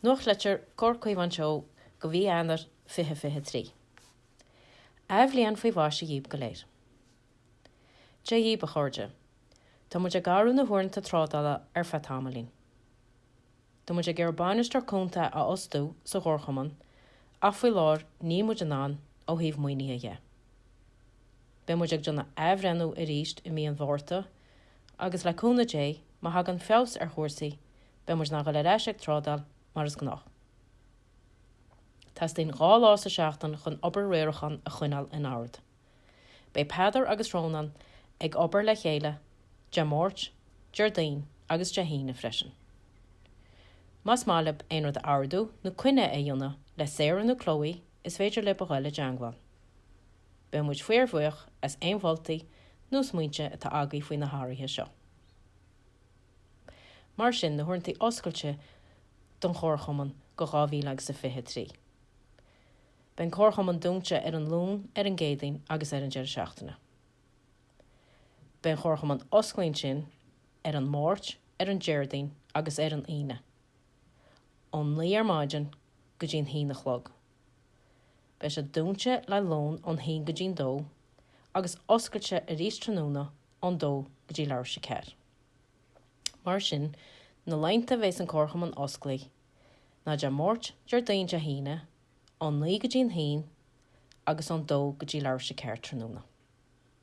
Nuachtlitir, Comhar Caomhán Teo go mhí Eanáir 2023. Athbhliain faoi mhaise dhíbh go léir. Dia dhíbh, a chairde. Tá muid ag athrú na huaireanta trádála ar feadh tamaillín. Tá muid ag iarraidh Bainisteoir Cúnta a fhostú sa gComharchumann ach faoi láthair níl muid in ann ó thaobh maoinithe dhe. Beidh muid ag déanamh athbhreithniú arís i mí an Mhárta Agus le cúnamh Dé, má thagann feabhas ar chúrsaí, beidh muid in ann a ghoil ar ais ag trádáil mar is gnách. Teastaíonn dhá lá sa seachtain chun obair riaracháin a choinneáil in ord. Beidh Peadar agus Rónán ag obair le chéile Dé Máirt, Déardaoin agus Dé hAoine freisin. Má ba mhaith libh aon rud a ardú nó coinne a dhéanamh le Sarah nó Chloe is féidir libh a ghoil i dteangmháil. Beidh muid fíorbhuíoch as aon mholtaí nó smaointe atá agaí faoi na hathruithe seo. Mar sin, na huaireantaí oscailte don Chomharchumann go dhá mhíle agus a fiche a trí. Beidh an Comharchumann dúnte ar an Luan, ar an gCéadaoin agus ar an deireadh seachtaine. Beidh an Comharchumann osclaithe ansin ar an Máirt, ar an Déardaoin agus ar an Aoine, ón naoi ar maidin go dtí an haon a chlog. Beidh sé dúnta le lón ón haon go dtí'n dó agus oscailte arís tráthnóna ón dó go dtí leathuair théis a ceathair. Mar sin, na laethanta bheas an comharchumann osclaithe, ná Dé Máirt, Déardaoin, Dé hAoine, ón naoi go dtí'n haon agus ón dó go dtí leathuair théis a ceathair tráthnóna.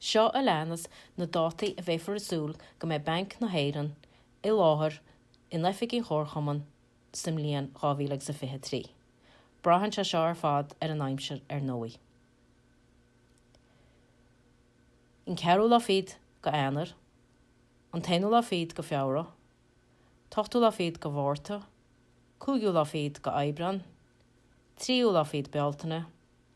Seo a leanas na dátaí a bheifear ag súil go mbeidh Banc na hÉireann i láthair in oifig an Chomharchumainn sa mbliain 2023. Braitheann sé seo ar fad ar an aimsir ar ndóigh. An ceathrú lá fichid go Eanáir, an t-aonú lá fichid go Fheabhra, t-ochtú lá fichid go Mhárta, cúigiú lá fichid go Aibreán, tríú lá fichid Bealtaine,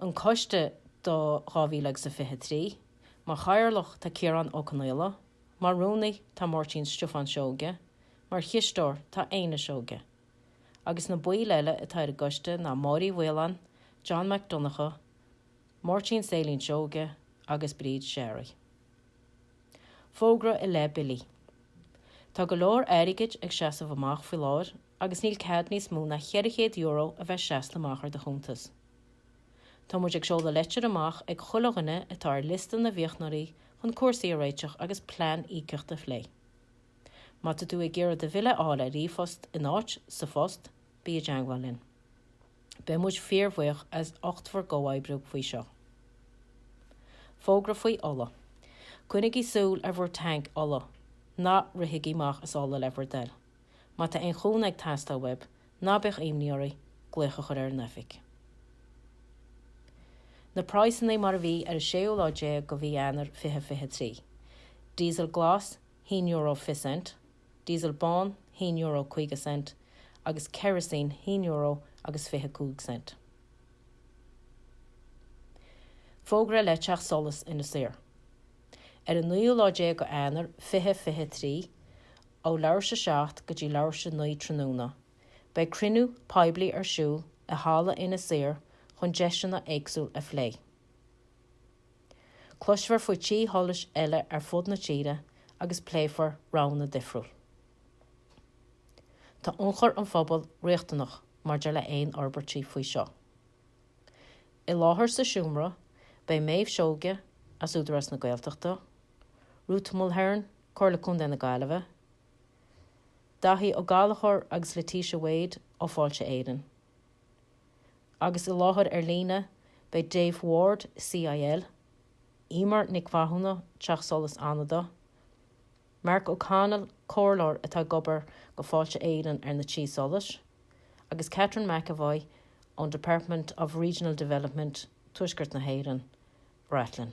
an Coiste do 2023. Mar Chathaoirleach tá Ciarán Ó Conaola, mar Rúnaí tá Máirtín Stiofán Seoige, mar Chisteoir tá Éanna Seoige. Agus na baill eile atá ar an gCoiste ná Máire Uí Mhaoláin, John Mac Donncha, Máirtín Sailín Seoige agus Bríd Sherry. Fógra i leith Billí. Tá go leor airgid ag seasamh amach faoi láthair agus níl cead níos mó ná €400 a bheith seasamh amach ar do chuntas. Tá muid ag seoladh leitir amach ag chuile dhuine atá ar liosta na bhféichiúnaithe chun cúrsaí a réiteach agus plean íocaíochta a phlé. Má tá tú ag iarraidh do bhille a fháil ar ríomhphost in áit sa phost, bí i dteangmháil linn. Beidh muid fíorbhuíoch as ucht bhur gcomhoibriú faoi seo. Fógra faoi ola. Coinnigí súil ar bhur tanc ola. Ná rithigí amach as ola le bhur dtoil. Má tá aon chúnamh ag teastáil uaibh, ná bíodh imní oraibh glaoch a chur ar an oifig. Na praghsanna mar a bhí ar an séú lá déag de mhí Eanáir 2023, Diesel Glas, haon euro fiche cent, Diesel Bán, haon euro caoga cent, agus Kerosene, haon euro agus fiche cúig cent. Fógra le teacht solais Inis Oírr. Ar an naoú lá déag de Eanáir 2023, ó leathuair tar éis 7 go dtí leathuair tar éis 9 tráthnóna. Beidh cruinniú poiblí ar siúl i halla Inis Oírr chun deiseanna éagsúla a phlé. Cloisfear faoi tí sholais eile ar fud na tíre agus pléifear roghanna difriúla. Tá ionchur an phobail riachtanach maidir le aon fhorbairtí faoi seo. I láthair sa seomra beidh Méabh Seoige as Údarás na Gaeltachta, Ruth Mulhern, Comhairle Contae na Gaillimhe, Daithí Ó Gallchóir agus Letitia Wade ó Fáilte Éireann. Agus i láthair ar líne beidh Dave Ward, CIL, Eimear Nic Mhathúna, Teach Solais Fhánada, Mark O'Connell, Comhairleoir atá ag obair do Fáilte Éireann ar na Tí Solais, agus Catherine McEvoy ón Department of Regional Development, Tuaisceart na hÉireann, Rathlin.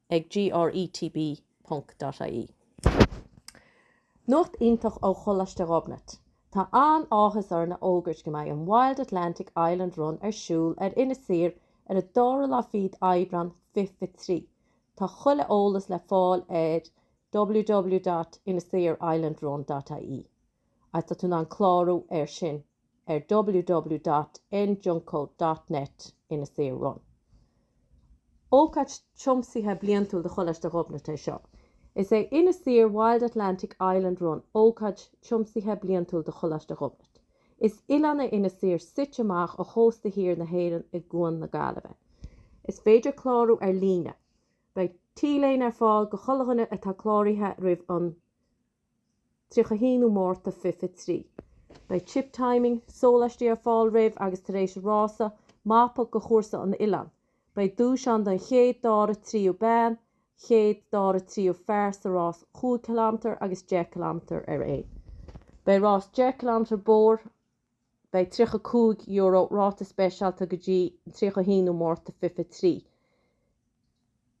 ag GRETB dot ie. Nuacht iontach ó Choláiste Ghobnait! Tá an-áthas orainn a fhógairt go mbeidh an Wild Atlantic Island Run ar siúl ar Inis Oírr ar an dara lá fichead Aibreán 2023. Tá chuile eolas le fáil ar www.inisoirrislandrun.ie. Tá tú in ann clárú air sin. ar www.njuko.net Inis Oírr Run. Ócáid tiomsaithe bliantúil do Choláiste Ghobnait é seo. Is é Inis Oírr Wild Atlantic Island Run ócáid tiomsaithe bliantúil do Choláiste Ghobnait. Is oileán é Inis Oírr suite amach ó chósta thiar na hÉireann i gCuan na Gaillimhe. Is féidir clárú ar líne. Beidh T-léine ar fáil go chuile dhuine atá cláraithe roimh an. 31ú Márta fiche fiche trí. Beidh chip timing, sólaistí ar fáil roimh agus tar éis an rása, mapa go chúrsa an oileáin. Beidh duais ann don chéad, dara, tríú bean, chéad, dara, tríú fear sa rás chúig ciliméadar agus deich ciliméadar araon. Beidh rás deich ciliméadar bóthair. Beidh €35 ráta speisialta go dtí an 31ú Márta fiche fiche trí.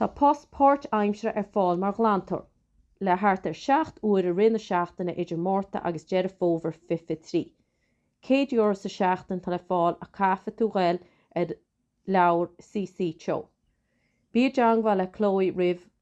Tá post páirt-aimsire ar fáil mar ghlantóir, le thart ar 7 uair i rith na seachtaine idir Márta agus Deireadh Fómhair 2023. €100 sa tseachtain atá le fáil ach caithfidh tú ghoil ar leabhar CC Teo. Bí i dteangmháil le Chloe roimh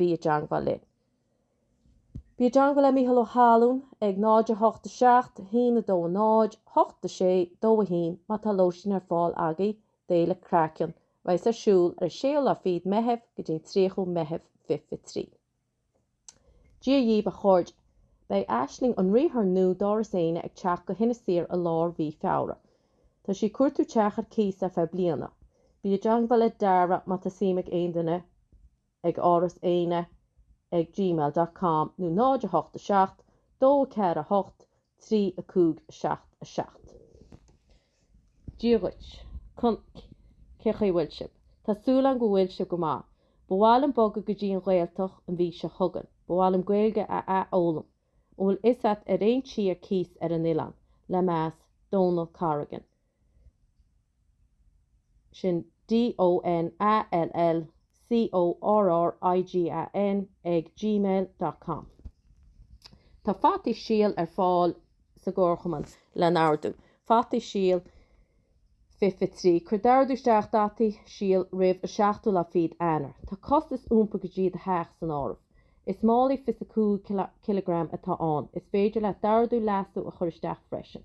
Bí i dteangmháil linn. Bí i dteangmháil le Mícheál Ó hAlmhain ag 08 7 1 2 0 8 6 2 1 má tá lóistín ar fáil agaibh d'Fhéile Craiceann a bheas ar siúl ar an 6ú lá fichead Meitheamh go dtí an 30ú Meitheamh 2023. Dia dhaoibh a chairde. Beidh Aisling an riarthóir nua d'Áras Éanna ag teacht go hInis Oírr i lár mhí Feabhra. Tá sí ag cuartú teach ar cíos ar feadh bliana. Bí i dteangmháil le Dara má tá suim ag aon duine ag Áras Éanna ag gmail dot com nó 087 248 3577. Dia dhuit. Con cé chaoi bhfuil sibh? Tá súil agam go bhfuil sibh go maith. Ba mhaith liom bogadh go dtí an Ghaeltacht an mhí seo chugainn. Ba mhaith liom Gaeilge a a fhoghlaim. An bhfuil fhios agat ar aon tí ar cíos ar an oileán, le meas, Donal Corrigan. Sin D O N A L L C O R R I G A N ag gmail dot com Tá fataí síl ar fáil sa gComharchumann le n-ordú. Fataí síl fiche fiche trí, cuir d'ordú isteach d'fhataí síl roimh an 7ú lá fichead Eanáir. Tá costas iompair go dtí do theach san áireamh. Is málaí 25 cileagram atá ann. Is féidir leat d'ordú leasú a chur isteach freisin.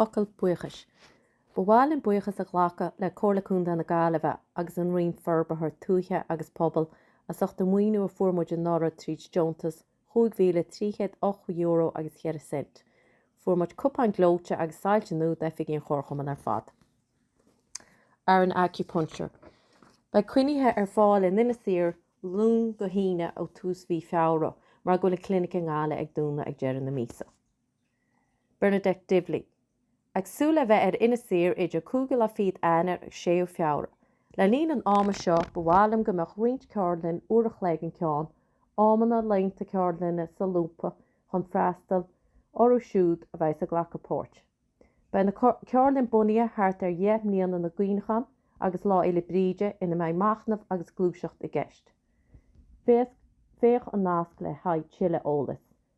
Focal buíochais. Ba mhaith linn buíochas a ghlacadh le Comhairle Contae na Gaillimhe agus an Roinn Forbartha Tuaithe agus Pobail as ucht an mhaoiniú a fuair muid anuraidh tríd deontas cúig mhíle trí chéad ocht euro agus cheithre cent. Fuair muid cupáin gleoite agus soilse nua d'oifigí an Chomharchumann ar fad. Ar an Acupuncture. Beidh coinní ar fáil in Inis Oírr Luan go hAoine ó tús mhí Feabhra mar go bhfuil an clinic i nGaillimh ag dúnadh ag deireadh na míosa. Bernadette Divilly, Ag súil le bheith ar Inis Oírr idir cúigiú lá fichead Eanáir agus séú Feabhra. Le linn an ama seo ba mhaith liom go mbeadh roinnt ceardlainn, uair a chloig an ceann, amanna laethanta ceardlainne solúbtha chun freastal orthu siúd a bheas ag glacadh páirt. Beidh na ceardlainn bunaithe thart ar Dheich mBliana na gCuimhneachán agus Lá Fhéile Bríde ina mbeidh machnamh agus gluaiseacht i gceist. Féach an nasc le haghaidh tuilleadh eolais.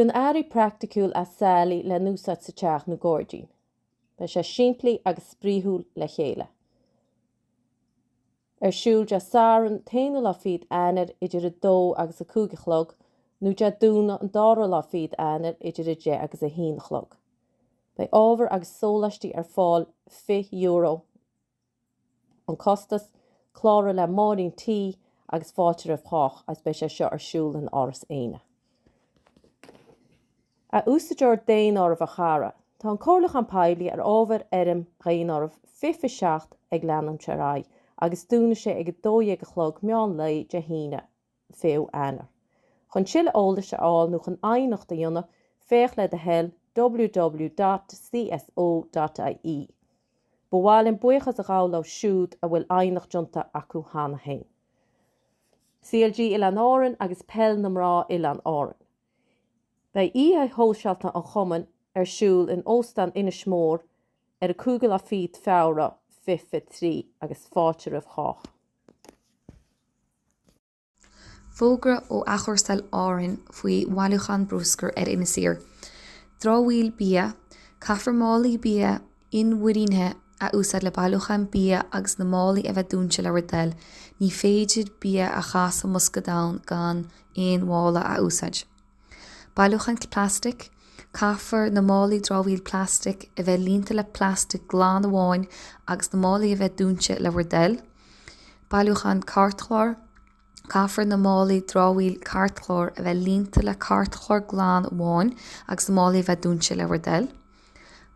Déan earraí praiticiúil as sailí le n-úsáid sa teach nó gairdín. Beidh sé simplí agus spraoiúil le chéile. Ar siúl Dé Satharn t-aonú lá fichead Eanáir idir a dó agus a cúig a chlog nó Dé Domhnaigh an dara lá fichead Eanáir idir a deich agus a haon a chlog. Beidh ábhar agus sóláistí ar fáil €20. an costas, cláraigh le Máirín T agus fáilte roimh chách agus beidh sé seo ar siúl in Áras Éanna. A Úsáideoir Daonáirimh a chara, tá an comhairliúchán poiblí ar ábhar fhoirm dhaonáirimh 2027 ag leanúint ar aghaidh agus dúnfaidh sé ag 12 a chlog meán lae Dé hAoine 20ú Eanáir. Chun tuilleadh eolais a fháil nó chun aighneacht a dhéanamh, féach le do thoil www dot cso dot ie. Ba mhaith linn buíochas a ghabháil leo siúd a bhfuil aighneacht déanta acu cheana féin. CLG Oileáin Árainn agus Peil na Mná Oileáin Árainn. Beidh oíche shóisialta an Chumainn ar siúl in Óstán Inis Mór ar an 5ú lá fichead Feabhra 2023 agus fáilte roimh chách. Fógra ó Athchúrsáil Árainn faoi bhailiúchán bruscair ar Inis Oírr. Dramhaíl bia, Caithfear málaí bia inmhuirínithe a úsáid le bailiúchán bia agus na málaí a bheith dúinte le bhur dtoil. Ní féidir bia a chaitheamh i mbosca donn gan aon mhála a úsáid. Bailiúchán Plaistic, Caithfear na málaí dramhaíl plaistic a bheith líonta le plastic glan amháin agus na málaí a bheith dúinte le bhur dtoil. Bailiúchán Cairtchláir, Caithfear na málaí dramhaíl cairtchláir a bheith líonta le cairtchlár glan amháin agus na málaí a bheith dúinte le bhur dtoil.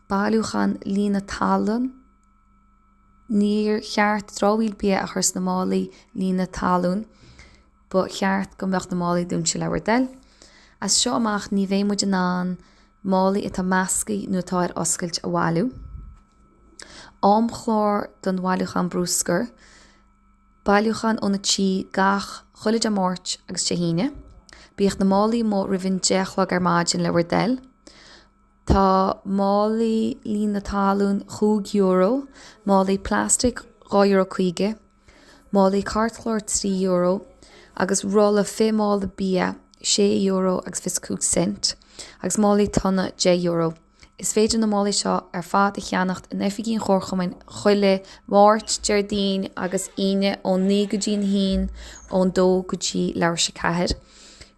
Bailiúchán Líonadh Talún, Níor cheart dramhaíl bia a chur sna málaí líonadh talún. Ba cheart go mbeadh na málaí dúinte le bhur dtoil. As seo amach ní bheidh muid in ann málaí atá meascaithe nó atá ar oscailt a bhailiú. Amchlár don Bhailiúchán Bruscar, bailiúchán ó na tithe gach, chuile Dé Máirt agus Dé hAoine. Bíodh na málaí amuigh roimh an deich a chlog ar maidin le bhur dtoil. Tá málaí líonadh talún chúig euro, málaí plastic dhá euro caoga. Málaí cairtchlár €3 agus rolla fiche mála bia €6.25 agus málaí tonna €10. Is féidir na málaí seo ar fad a cheannacht in oifigí an Chomharchumainn chuile Máirt, Déardaoin agus Aoine ón 9 go dtí an 1, ón 2 go dtí leathuair tar éis a 4.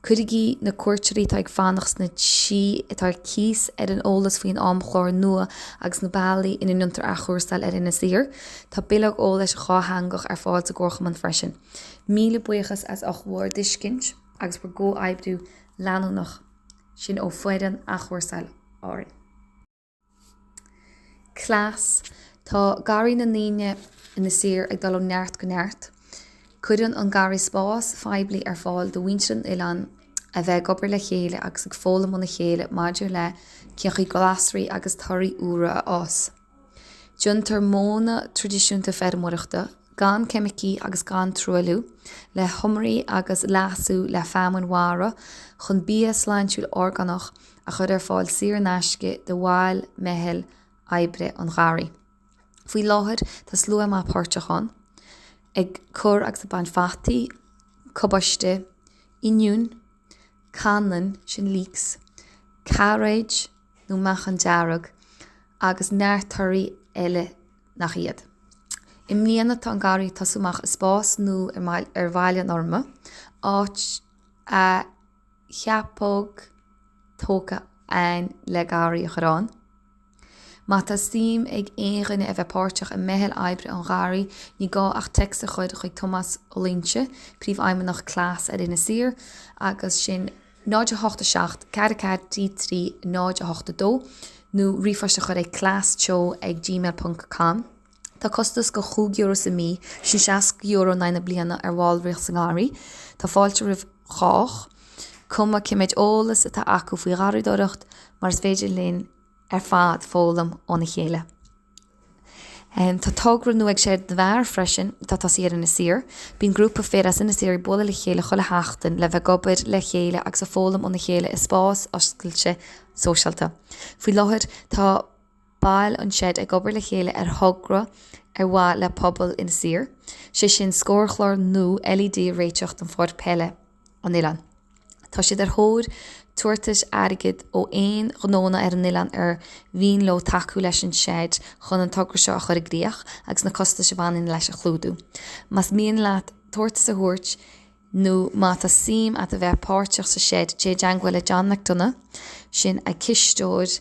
Cuirigí na cuairteoirí atá ag fanacht sna tithe atá ar cíos ar an eolas faoin amchlár nua agus na bealaí ina ndéantar athchúrsáil ar Inis Oírr. Tá bileog eolais dhátheangach ar fáil sa gComharchumann freisin. Míle buíochas as ucht bhur dtuiscint agus bhur gcomhoibriú leanúnach sin ó foireann athchúrsáil Árainn. Cleas, Tá garraí na ndaoine Inis Oírr ag dul ó neart go neart. Cuireann an garraí spás phoiblí ar fáil do mhuintir an oileáin a bheith ag obair le chéile agus ag foghlaim óna chéile maidir le cén chaoi glasraí agus torthaí úra a fhás. Déantar modhanna traidisiúnta feirmeoireachta, gan ceimicí agus gan truailliú, le hiomairí agus leasú le feamainn mhara chun bia sláintiúil orgánach a chur ar fáil saor in aisce do bhaill meitheal oibre an gharraí. Faoi láthair tá slua maith páirteach ann, ag cur agus ag baint fataí, cabáiste, oinniúin, cainneann, sin leeks, cairéid nó meachan dearg, agus neart torthaí eile nach iad. I mbliana tá an garraí ag tosú amach i spás nua ar Bhaile an Fhormna, áit a. cheapóg tógtha ann le garraí a chur ann. Má tá suim ag aon dhuine a bheith páirteach i meitheal oibre an gharraí ní gá ach text a chur chuig Tomás Ó Loingsigh, Príomhfheidhmeannach Cleas ar Inis Oírr, agus sin 087 44 33 082 nó ríomhphost a chur ag cleas teo ag gmail ponc com. Tá costas de chúig euro sa mí, sin seasca euro in aghaidh na bliana ar bhallraíocht sa ngarraí. Tá fáilte roimh chách, cuma cé méid eolas atá acu faoi gharraídóireacht, mar is féidir linn ar fad foghlaim óna chéile. Tá togra nua ag Seid na bhFear freisin, atá tosaithe ar Inis Oírr. Bíonn grúpa fir as Inis Oírr ag bualadh le chéile chuile sheachtain le bheith ag obair le chéile agus ag foghlaim óna chéile i spás oscailte sóisialta. Faoi láthair tá. baill an seid ag obair le chéile ar thogra ar mhaith le pobal Inis Oírr, sé sin scórchlár nua LED a réiteach don pháirc peile an oileáin. Tá siad ar thóir tabhartais airgid ó aon ghnóanna ar an oileán ar mhian leo tacú leis an seid chun an togra seo a chur i gcríoch agus na costais a bhaineann leis a chlúdú. Más mian leat tabhartas a thabhairt nó má tá suim a't a bheith páirteach sa seid téigh i dteangmháil le John McDonagh, sin an cisteoir,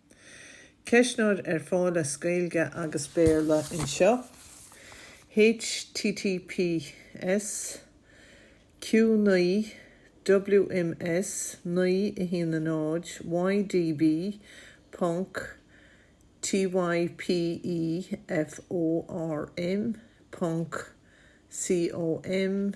Ceistneoir ar fáil as Gaeilge agus Béarla anseo. https Q naoi WMS naoi a haon a náid YDB ponc TY PE FORM ponc COM.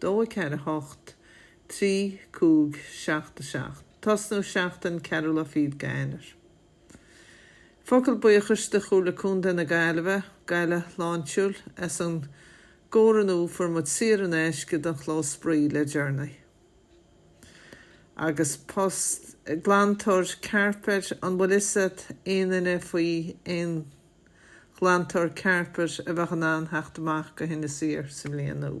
dó 4 8 3 5 7 7 Tosnú Seachtain Ceathrú Lá Fichead d'Eanáir Focal buíochais do Chomhairle Contae na Gaillimhe, Gaillimhe Shláintiúil as an gcomhoiriúnú Fuair muid saor in aisce don chlós spraoi le Journey agus post glantóir cairpéid An bhfuil fhios a't aon duine faoi aon ghlantóir cairpéid a bheadh in ann theacht amach go hInis Oírr sa mbliain úr?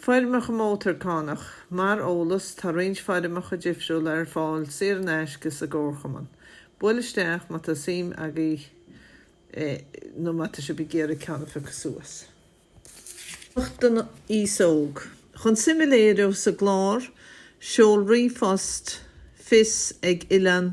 Foirmeacha Mótarchánach, Mar eolas, tá roinnt foirmeacha difriúla ar fáil saor in aisce sa gComharchumann. Buail isteach má tá suim agaibh nó má tá sibh ag iarraidh ceann a phiocadh suas. Nuacht don aos óg, Chun suim a léiriú sa gclár, seol ríomhphost fios ag oileán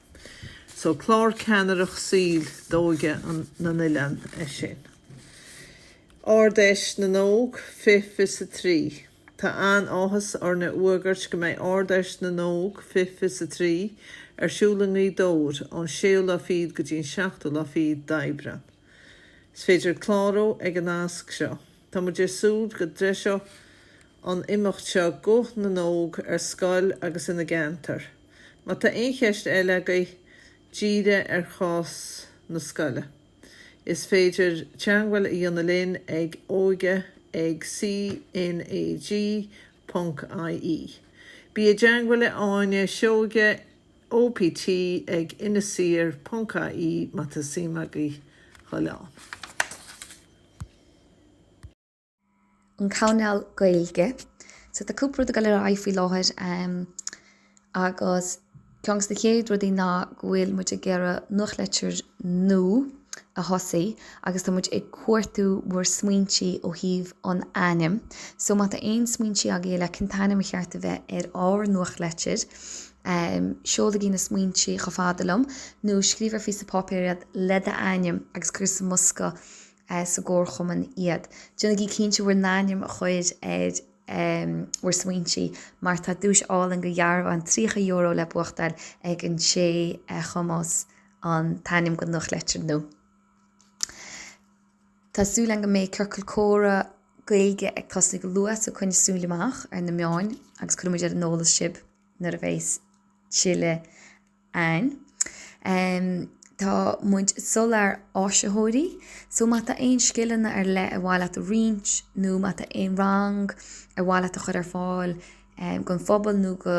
So clár ceannaireacht saoil d'óige na n-oileán é sin. Ard-Fheis na nÓg, fiche fiche is a trí. Tá an-áthas orainn a fhuagairt go mbeidh Ard-Fheis na nÓg, fiche fiche is a trí, ar siúl i nGaoth Dobhair ón séú lá fichead go dtí'n seachtú lá fichead d'Aibreán. Is féidir clárú ag an nasc seo. Tá muid ag súil go dtreiseoidh an imeacht seo guth na n-óg ar scoil agus ina gceantar. Má tá aon cheist eile agaibh dírithe ar chás na scoile. Is féidir teangmháil a dhéanamh linn ag óige ag CNAG ponc IE. Bí i dteangmháil le Áine Seoige OPT ag inisoirr ponc IE má tá suim agaibh dhul ann. an cainéal Gaeilge. So tá cúpla rud ag goil ar aghaidh faoi láthair agus ceann gos na chéad rudaí ná go bhfuil muid ag iarraidh nuachtlitir nua a thosaí agus tá muid ag cuartú bhur smaointí ó thaobh an ainm. So má tá aon smaointí agaibh ar cén t-ainm ar cheart a bheith ar ár nuachtlitir, seolaigí na smaointí chomh fada liom nó scríobh ar phíosa páipéir iad le d'ainm agus cuir sa mbosca sa gComharchumann iad. Déanaigí cinnte bhur n-ainm a chur ar bhur smaointí mar tá duais álainn go dhearbhán €30 le buachtáil ag an té a chumfas an t-ainm gon nuachtlitir nua. Tá súil agam go mbeidh Ciorcal Comhrá Gaeilge ag tosaí go luath so coinnígí súil amach ar na meáin agus cuirfidh muid ar an eolas sibh nuair a bheidheas tuilleadh ann. Tá muid ag soláthar áisitheoirí so má tá aon scileanna ar leith ar mhaith leat a roinnt nó má tá aon rang ar mhaith leat a chur ar fáil gon phobal nó go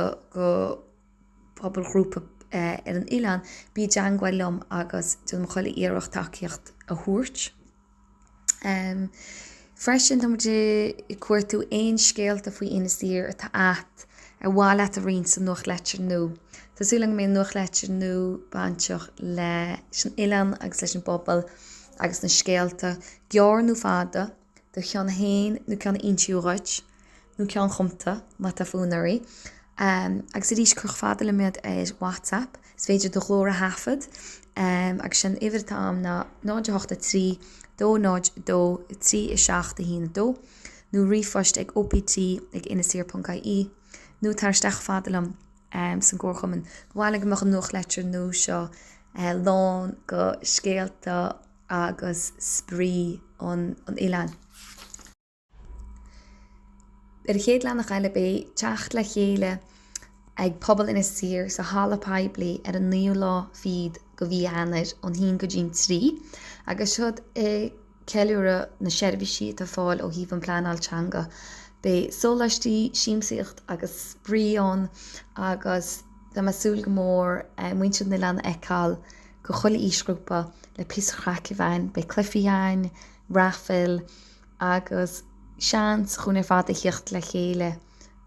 phobalghrúpa ar an oileán bí i dteangmháil liom agus déanfaidh mé chuile iarracht tacaíocht a thabhairt. Freisin, tá muid ag cuartú aon scéalta faoi Inis Oírr atá at ar mhaith leat a roinnt sa nuachtlitir nua. Tá súil agam go mbeidh an nuachtlitir nua bainteach leis an oileán agus leis an bpobal agus na scéalta, gearr nó fada, do cheann féin nó ceann a insíodh dhuit. nó ceann chumta, má tá fonn oraibh. Agus arís, chomh fada liom iad ar WhatsApp, is féidir do ghlór a thaifead. Agus sé'n uimhir atá a'm ná 0 8 3 2 0 2 3 7 1 2, nó ríomhphost ag OPT ag inisoirr.ie, nó tar isteach chomh fada liom sa gComharchumann. Ba mhaith linn go mbeadh an nuachtlitir nua seo lán go scéalta agus spraoi an oileáin. Ar a chéad leathanach eile beidh teacht le chéile ag Pobal Inis Oírr sa halla pobail ar an 9ú lá fichead go mhí Eanair ón haon go dtí'n trí agus siod ag ceiliúradh na seirbhísí atá ar fáil ó thaobh an pleanáil teanga. Beidh sóláistí, siamsaíocht agus spraoi ann agus tá mé ag súil go mór muintir an oileán a fheiceáil go chuile aoisghrúpa le píosa craic a bheith ann. Beidh cluichí ann, raifil, Agus seans dhúinn ar fad a thiocht le chéile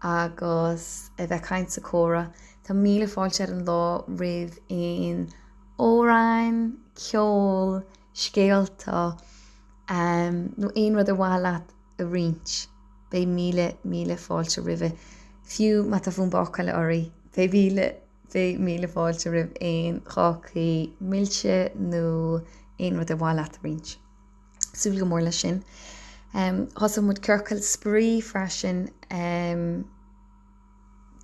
agus a bheith ag caint is ag comhrá. Tá míle fáilte ar an lá roimh aon amhráin, ceol, scéalta, em, nó aon rud ar mhaith leat a roinnt. Beidh míle, míle fáilte roimhe. Fiú má tá fonn bácála oraibh, beidh míle, beidh míle fáilte roimh aon chácaí milse nó aon rud ar mhaith leat a roinnt. Súil go mór leis sin. Thosaigh muid ciorcail spraoi freisin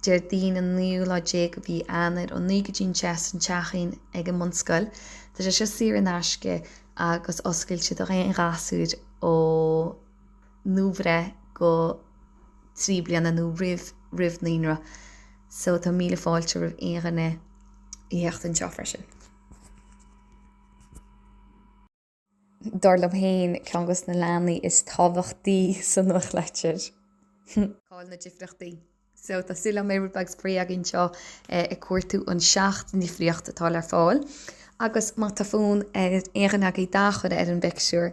Déardaoin an naoú lá déag de mhí Eanáir ó naoi go dtí an deich san teachín ag an mbunscoil. Tá sé seo saor in aisce agus oscailte do dhaon ghasúr ó nuabhreith go trí bliana nó roimh naíonra. So tá míle fáilte roimh aon dhuine a theacht anseo freisin. dar liom féin, ceann dos na leathanaigh is tábhachtaí sa nuachtlitir. Cá bhfuil na difríochtaí. So tá súil agam mbeidh rud beag spraoi againn anseo ag cuartú an seacht ndifríocht atá le fáil agus má tá fonn ar aon dhuine agaibh dath a chur ar an bpictiúr,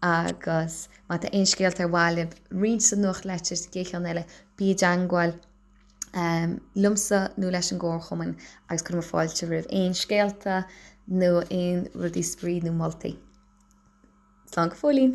Agus má tá aon scéalta ar mhaith libh a roinnt sa nuachtlitir, sa gcéad cheann eile, bí i dteagmháil liomsa nó leis an gComharchumann agus cuirfidh muid fáilte roimh aon scéalta nó aon rudaí spraoi nó moltaí. Slán go fóillín!